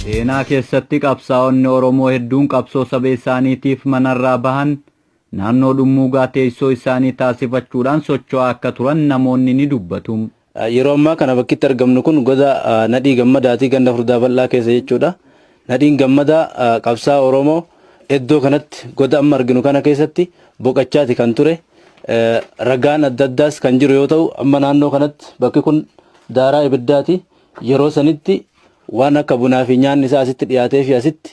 Seenaa keessatti qabsaa'onni Oromoo hedduun qabsoo saba isaaniitiif manarraa bahan naannoo dhummuugaa teessoo isaanii taasifachuudhaan socho'aa akka turan namoonni ni dubbatu. Yeroo ammaa kana bakki itti argamnu kun goda Nadhii Gammadaati ganda Furdaa Bal'aa keessa jechuudha. Nadhiin Gammadaa qabsaa'aa Oromoo eddoo kanatti goda amma arginu kana keessatti boqachaati kan ture. Ragaan adda addaas kan jiru yoo ta'u amma naannoo kanatti bakki kun daaraa ibiddaati. Yeroo sanitti waan akka bunaa fi nyaanni isaa asitti dhiyaatee fi asitti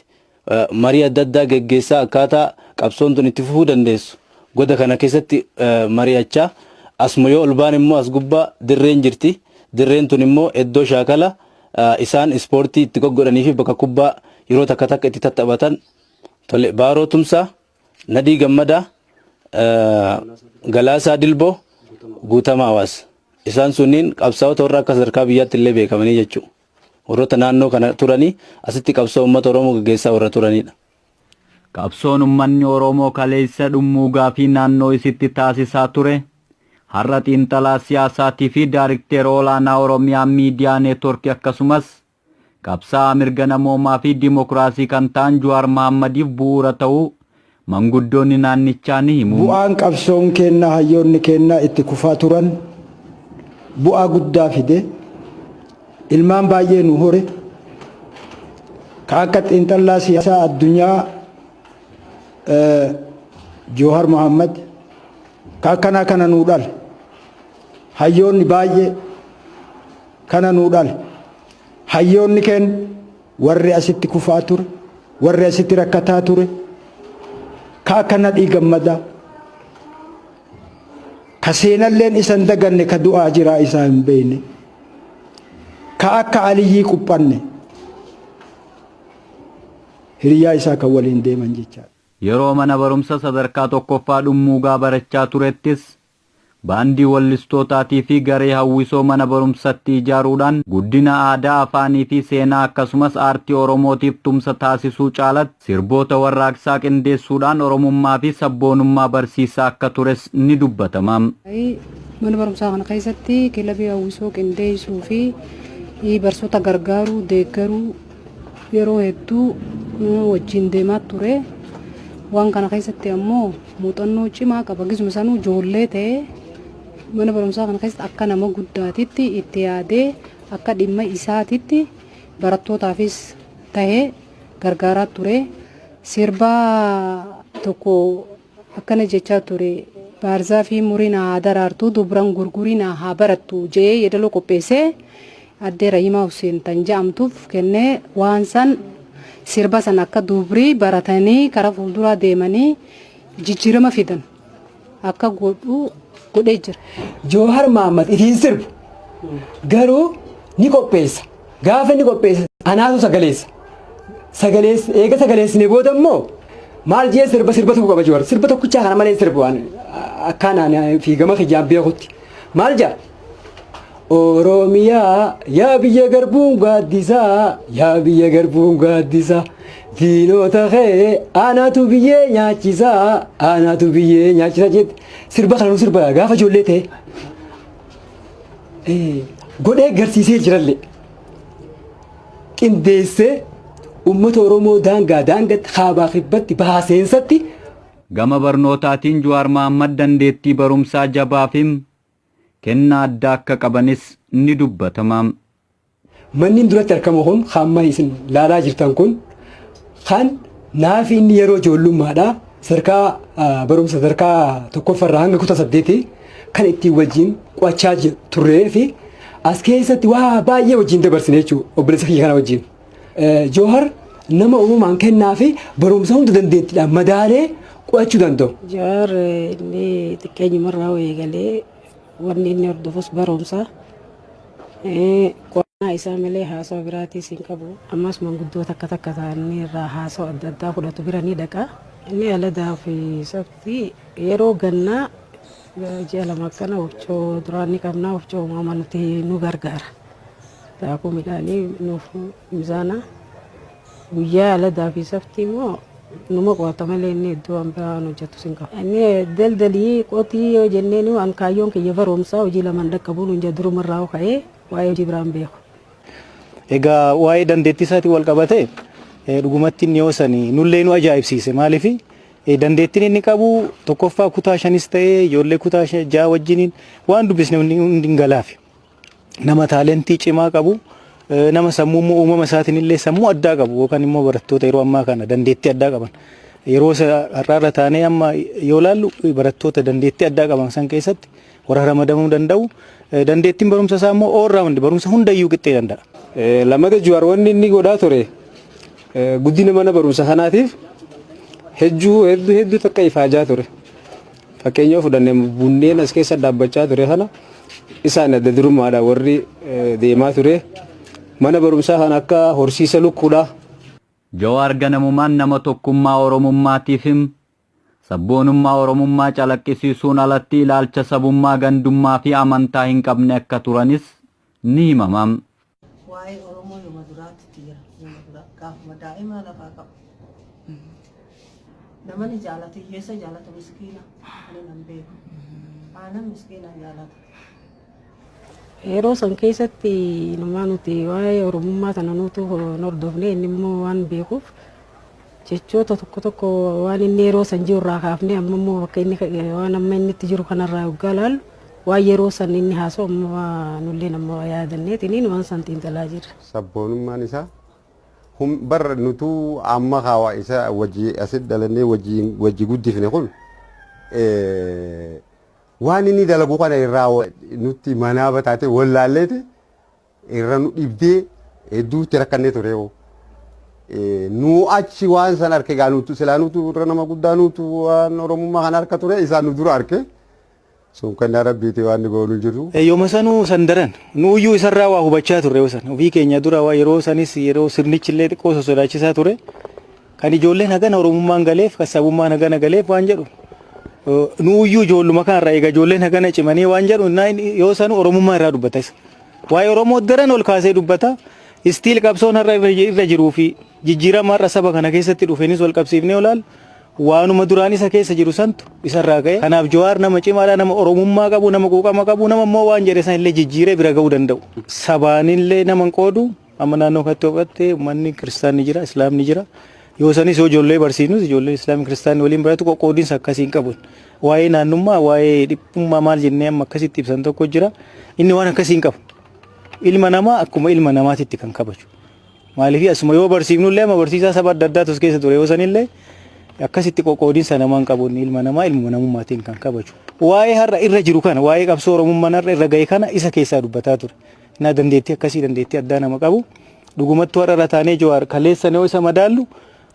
Marii adda addaa geggeessaa akkaataa qabsoon tun itti fufuu dandeessu goda kana keessatti mari'achaa asuma yoo ol baane immoo as gubbaa dirreen jirti. Dirreen tun immoo eddoo shaakala isaan ispoortii itti goggodhanii fi bakka kubbaa yeroo takka takka itti tattaphatan tole Baaroo Tumsaa, Nadhii Gammadaa, Galaasaa Dilboo, Guutamaa Hawaas. Isaan sunniin qabsaa'ota warra akka sadarkaa biyyaatti illee beekamanii jechuudha. Warroota naannoo kana turanii asitti qabsoo uummata Oromoo gaggeessaa warra turanidha. Qabsoon ummanni Oromoo kaleessa dhummuugaa fi naannoo isitti taasisaa ture har'a xiinxalaa siyaasaatii fi daarikteera olaanaa Oromiyaa Miidiyaa Neetworki akkasumas qabsaa'aa mirga namoomaa fi dimokiraasii kan ta'an Juwaar Mahaammadiif bu'uura ta'uu manguddoonni naannichaa ni himu. Bu'aan qabsoon keenna hayyoonni keenna itti kufaa turan bu'aa guddaa fide, ilmaan baay'ee nu hore, ka akka xiinxallaa siyaasaa addunyaa Joohar Mohammad ka akkanaa kana nuu dhale, hayyoonni baay'ee kana nuu dhale, hayyoonni keenna. Warri asitti kufaa ture, warri asitti rakkataa ture, ka akka Nadhii Gammadaa, ka seenalleen isa hin daganne ka du'aa jiraa isaa hin beekne, ka akka Aliyyii Quphanne hiriyaa isaa kan waliin deeman jechaadha. Yeroo mana barumsa sadarkaa tokkoffaa Dhummuugaa barachaa turettis Baandii wallistootaatii fi garee hawwisoo mana barumsatti ijaaruudhaan guddina aadaa, afaanii fi seenaa akkasumas aartii Oromootiif tumsa taasisuu caalatti sirboota warraaqsaa qindeessuudhaan Oromummaa fi sabboonummaa barsiisaa akka tures ni dubbatama. Mana barumsaa kana keessatti kilabii hawwisoo qindeessuu fi barsoota gargaaruu, deeggaruu, Yeroo hedduu wajjin deemaa ture. Waan kana keessatti ammoo muuxannoo cimaa qaba. Gisuma sanuu ijoollee ta'ee mana barumsaa kana keessatti akka nama guddaatitti itti yaadee akka dhimma isaatitti barattootaafis ta'ee gargaaraa ture. Sirbaa tokko akkana jechaa ture baarzaafii murii naa haa daraartuu dubran gurgurii naa haa barattu je'ee yeedaloo qopheessee addee Rahimaa Husseen tan ja'amtuuf kennee waan san sirba san akka dubrii baratanii karaa fuulduraa deemanii jijjiirama fidan akka godhu godhee jira. Joohar Mahaammad ifiin sirbu garuu ni qopheessa. Gaafa inni qopheesse anaatu sagaleessa. Sagaleessa eega sagaleessine booda immoo maal jee sirba sirba tokko qaba jiru. Sirba tokkichaa kana malee sirba waan akkaan ani fi gama kiyyaan beekutti. Maal jaa? Oromiyaa yaa biyya garbuun gaaddisaa yaa biyya garbuun gaaddisaa diinota kee anaatu biyyee nyaachisaa anaatu biyyee nyaachisaa jette sirba kanuu sirba gaafa ijoollee ta'e. godhee garsiisee jirallee qindeessee uummata Oromoo daangaa daangatti kaabaa kibbatti bahaa seensatti Gama barnootaatiin Juwaar Mahaammad dandeettii barumsaa jabaa fi kenna addaa akka qabanis ni dubbatama. Mannin duratti arkamu kun kan amma isin laalaa jirtan kun kan naafi inni yeroo ijoollummaadha sadarkaa barumsa sadarkaa tokkoffarraa hanga kutaa saddeeti kan ittiin wajjin qo'achaa turree fi as keessatti waa baay'ee wajjin dabarsine jechuudha obboleessa kiyya kana wajjin. Joohar nama uumaan kennaa fi barumsa hunda dandeettiidhaan madaalee qo'achuu danda'u. Joohar inni xiqqeenyumarraa eegalee Wanni inni hordofus barumsa. Qo'annaa isaa malee haasawa biraatiis hin qabu. Ammas manguddoota akka takka ta'anii irraa haasawa adda addaa fudhatu bira ni dhaqa. Inni Aladaa fi Sabti yeroo gannaa ji'a lama akkana wofcoo duraan ni qabna wofcoo uumama nuti nu gargaara. Daakuu midhaanii nuuf mizaana. Guyyaa aladaa fi saftii immoo numa qo'ata malee inni iddoo waan biraa waan hojjetus hin qabu. Inni daldalii qotii yoo jenneen waan kaayyoon kiyya baroomsaa hojii lamaan dhaqqabuu nuun jira durumarraa hoo ka'ee waa'ee hojii biraan beeku. Egaa waa'ee dandeettii isaatiin wal qabatee dhugumatti inni yoo sani nullee nu ajaa'ibsiise maaliif dandeettiin inni qabu tokkoffaa kutaa shanis ta'ee ijoollee kutaa ja'a wajjiniin waan dubbisne hundi hin galaafi. nama taalentii cimaa qabu nama sammuu immoo uumama isaatiin illee sammuu addaa qabu yookaan immoo barattoota yeroo ammaa kana dandeettii addaa qaban yeroo isa har'aarra taanee amma yoo laallu barattoota dandeettii addaa qaban san keessatti warra ramadamuu danda'u dandeettiin barumsa isaa immoo all round barumsa hundayyuu qixxee danda'a. Lammata Juwaar wanni inni godhaa ture guddina mana barumsa kanaatiif hedduu hedduu hedduu takka ifaajaa ture. Fakkeenya yoo fudhanne bunneen as keessa dhaabbachaa ture kana isaan adda durummaadha warri deemaa ture. Mana barumsaa kana akka horsiisa lukkuudha. Jawaar ganamumaan nama tokkummaa Oromummaatiif him. Sabboonummaa Oromummaa calaqqisiisuun alatti ilaalcha sabummaa, gandummaa fi amantaa hin qabne akka turanis ni himama. Waa'ee Oromoo yoma duraatti itti jira. Yoma duraa gaafuma daa'imaa lafaa qabu. Namani jaalatu hiyyeessa jaalatu miskiina. Ani nan beeku. Aanan miskiina jaalata. Yeroo san keessatti inumaa nuti waa'ee Oromummaa sana nutu hin hordofne inni immoo waan beekuuf Jechoota tokko tokko waan inni yeroo san jiru irraa kaafnee amma immoo bakka inni waan amma inni itti jiru kanarraa yoggaa laallu waan yeroo san inni haasa'u amma nulleen amma yaadanneetiniin waan san xiinxalaa jirra. Sabboonummaan isaa hum bar nutuu amma kaawaa isa wajji asit dhalannee wajji wajji guddifne kun waan inni dalagu kana irraa nutti manaaba taatee wallaalleeti irra nu dhibdee hedduutti rakkannee ture yoo. Nu achi waan san arke gaa nutu silaa nutu irra nama guddaa nutu waan oromummaa kana harka ture isaa nu dura arke. Sun kennaa rabbiiti waan ni goonu jiru. Yooma sanuu san daran nu iyyuu isarraa waa hubachaa turre yoo san ofii keenya dura waa yeroo sanis yeroo sirnichi illee xiqqoo sosodaachisaa ture. Kan ijoolleen hagana Oromummaan galeef, kan sabummaan hagana galeef waan jedhu nuuyyuu ijoolluma kanarraa eega ijoolleen hagana cimanii waan jedhu yoo sanu Oromummaa irraa dubbata isa. Waa'ee Oromoo daran ol kaasee dubbata. Istiil qabsoon har'a irra jiruu fi jijjiirama har'a saba kana keessatti dhufeenis wal qabsiifnee olaal waanuma duraan isa keessa jiru santu isarraa ka'e. Kanaaf Jawaar nama cimaadha, nama Oromummaa qabu, nama quuqama qabu, nama immoo waan jedhe san illee jijjiiree bira ga'uu danda'u. Sabaanillee nama hin qoodu. Amma naannoo kanatti yoo fudhatte uummanni kiristaanni jira, islaamni jira. Yoo sanis yoo ijoollee barsiisnus ijoolleen islaamni kiristaanni waliin baratu qoqqoodinsa akkasii hin qabun. Waa'ee naannummaa, waa'ee dhiphummaa maal jennee amma akkasitti ibsan tokko jira. Inni waan akkasii hin qabu. Ilma namaa akkuma ilma namaatitti kan kabaju. Maaliif asuma yoo barsiifnullee amma barsiisaa saba adda addaatu as keessa ture yoo sanillee akkasitti qoqqoodinsa namaan qabuun ilma namaa ilma namummaatiin kan kabaju. Waa'ee har'a irra jiru kana waa'ee qabsoo oromummaan har'a irra ga'e kana isa keessaa dubbataa ture. Naa dandeettii akkasii dandeettii addaa nama qabu. Dhugumattuu har'a irra taanee Jawaar kaleessan yoo isa madaallu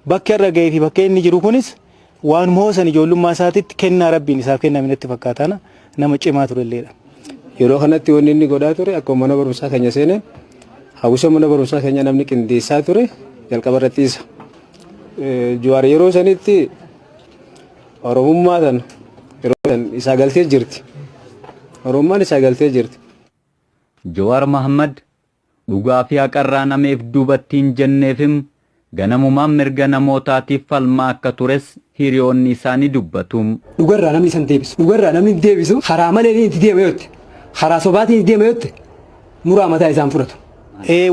bakki har'a ga'ee fi bakka inni jiru kunis waan moosan ijoollummaa isaatitti kennaa rabbiin isaaf kenname natti fakkaataana nama cimaa turelleedha. Yeroo kanatti wanni inni godhaa ture akkuma mana barumsaa keenya seeneen hawwisa mana barumsaa keenya namni qindeessaa ture jalqaba irratti isa. Jawaar yeroo sanitti Oromummaa sana yeroo san isaa galtee jirti. Oromummaan isaa galtee jirti. Jowaar Mahaammad dhugaa fi haqarraa nameef duubatti hin jenneefim ganamumaan mirga namootaatiif falmaa akka tures hiriyoonni isaa ni dubbatu. Dhugarraa namni isa hin deebisu. Dhugarraa namni hin deebisu karaa maleetiin itti deema yoo jette, karaa sobaatiin itti deema yoo jette muraa mataa isaa hin fudhatu.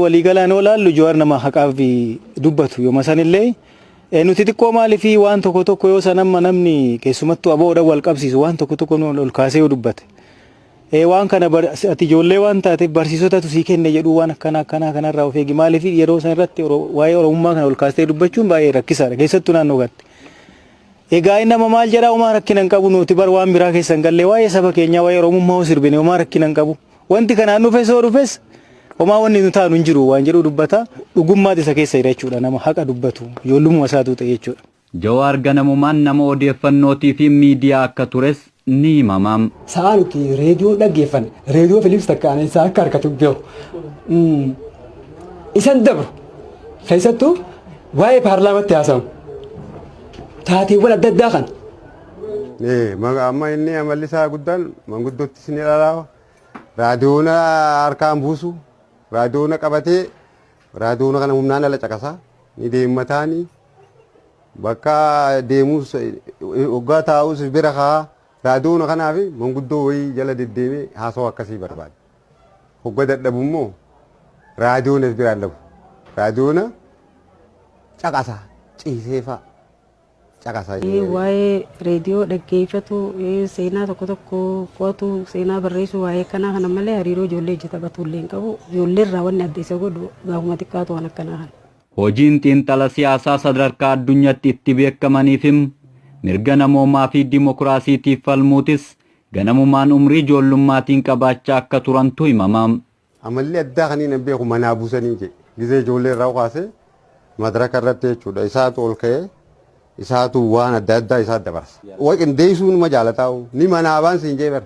Walii galaan yoo ilaallu Jowaar nama haqaaf dubbatu. Yooma san illee nuti xiqqoo maaliif waan tokko tokko yoo san amma namni keessumattuu ABO'dhaan wal qabsiisu waan tokko tokko ol kaasee yoo dubbate, Ee waan kana ati ijoollee waan taateef barsiisotatu sii kenne jedhuu waan akkanaa akkanaa kanarraa of eegi maaliif yeroo san irratti waa'ee oromummaa kana ol kaastee dubbachuun baay'ee rakkisaadha keessattuu naannoo kanatti. Egaa inni amma maal jedhaa homaa rakkina hin qabu nuti bar waan biraa keessa hin galle waa'ee saba keenyaa waa'ee oromummaa hoo sirbine homaa rakkina hin qabu wanti kanaan dhufes hoo dhufes homaa wanni nu taanu hin jiru waan jedhu dubbata dhugummaati isa keessa jira jechuudha nama haqa dubbatu ijoollummaa isaatuu ta'e jechuudha. Jawaar ganamumaan nama odeeffannootii fi miidiyaa akka tures ni himama. Sa'aa nuti reediyoo dhaggeeffanne, reediyoo Filiips Takkaaleen isaa akka harkatu beeku. Isan dabru keessattuu waa'ee paarlaamatti haasawu. Taateewwan adda addaa kan. Amma inni amalli isaa guddaan manguddoottis ni dhalaa'u. Raadiyoona harkaan buusu. Raadiyoona qabatee raadiyoona kana humnaan ala caqasa. Ni deemmataani. Bakka deemuus hoggaa taa'us bira ka'a. Raadiyoona kanaa fi manguddoo wayii jala deddeemee haasawa akkasii barbaada. Hogga dadhabu immoo raadiyoonas biraan dhabu. Raadiyoona caqasa ciisee fa'a caqasa. Waa'ee reediyoo dhaggeeffatu, seenaa tokko tokko qo'atu, seenaa barreessuu waa'ee akkanaa kana malee hariiroo ijoollee ijji taphatu illee hin qabu. Ijoollee irraa wanni adda isa godhu gaafuma xiqqaatu waan akkanaa kana. Hojiin xiinxala siyaasaa sadarkaa addunyatti itti beekamaniifim mirga namoomaa fi dimokiraasiitiif falmuutis ganamumaan umrii ijoollummaatiin qabaachaa akka turantu himama. Amalli addaa kan hin beeku manaa busanii jedhe. Gizee ijoollee irraa kaasee madraka irratti jechuudha isaatu ol ka'ee isaatu waan adda addaa isaa dabarsa. Wal qindeessuu numa jaalataa'u ni manaabaan siin jee bara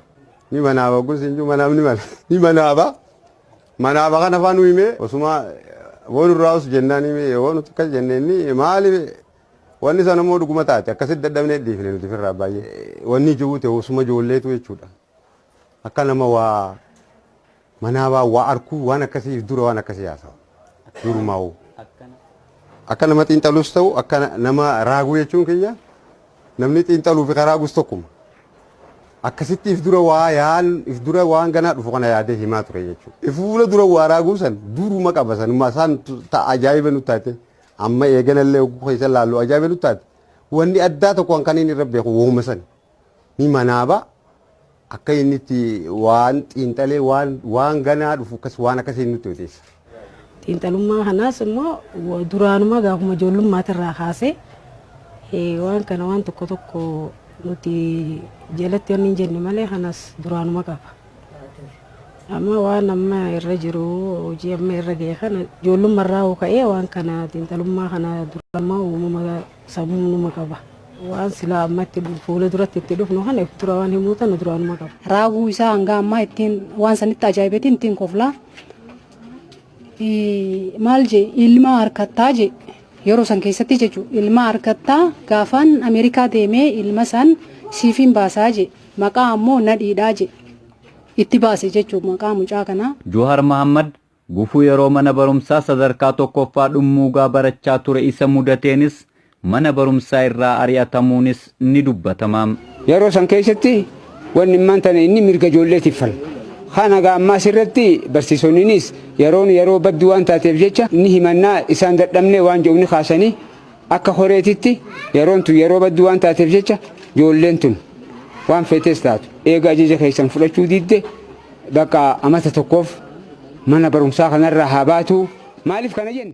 ni manaaba ogguun siin juu manaabni mala ni manaaba. Manaa bakan afaa nu himee osumaa won irraa us jennaan himee yoo nuti akkas jenne inni maali wanni sana immoo dhuguma taate akkasitti dadhabnee dhiifne nuti firraa baay'ee wanni jiru ta'e osuma ijoolleetu jechuudha akka nama waa manaa baa waa arkuu waan akkasiif dura waan akkasii haasawa durumaa'u akka nama xiinxalus ta'u akka nama raaguu jechuun kiyya Namni xiinxaluu fi karaa gus tokkuma. Akkasitti if dura waa yaan if dura waan ganaa dhufu kana yaadee himaa ture jechu. If fuula dura waa raaguu san duruma qaba sanuma saan ta ajaa'iba nu taate amma eeganallee hogguu keessa laallu ajaa'iba nu taate wanni addaa tokko kan kan inni irra beeku wooma sani. Ni manaaba Akka inni itti waan xiinxalee waan waan ganaa dhufu akkas waan akkasii nutti odeessa. Xiinxalummaa kanaas immoo wa- duraanumaa gaafuma ijoollummaatiirraa kaasee eh, waan kana waan tokko tokko nuti jalatti wanni hin jenne malee kanas duraanuma qaba. Amma waan amma irra jiru hojii amma irra ga'e kana ijoollummarraa hoo ka'ee waan kana xiinxalummaa kana duraanumaa uumama Sabumnuma qaba. Waan silaa amma itti fuula duratti itti dhufnu kana if dura waan himuu tana duraanuma qaba. Raaguu isaa hanga ammaa ittiin waan sanitti ajaa'ibeetiin ittiin koflaa. Maal jee ilma harkattaa jee yeroo san keessatti jechuudha ilma harkattaa gaafaan Ameerikaa deemee ilma san siifiin baasaa jee maqaa ammoo nadhiidhaa jee itti baase jechuudha maqaa mucaa kanaa. Joohar Mahaammad Gufuu yeroo mana barumsaa sadarkaa tokkoffaa dhummuugaa barachaa ture isa mudateenis mana barumsaa irraa ari'atamuunis ni dubbatama. Yeroo san keessatti wanni ammaan tana inni mirga ijoolleetiif falmu. Kan haga ammaas irratti barsiisonninis yeroon yeroo badduu waan taateef jecha ni himannaa isaan dadhabne waan jedhu ni kaasanii Akka horeetitti yeroon tun yeroo badduu waan taateef jecha joolleen tun waan feetes taatu eega ajaja keessan fudhachuu didde bakka amata tokkoof mana barumsaa kanarraa haa baatu. Maaliif kana jenna?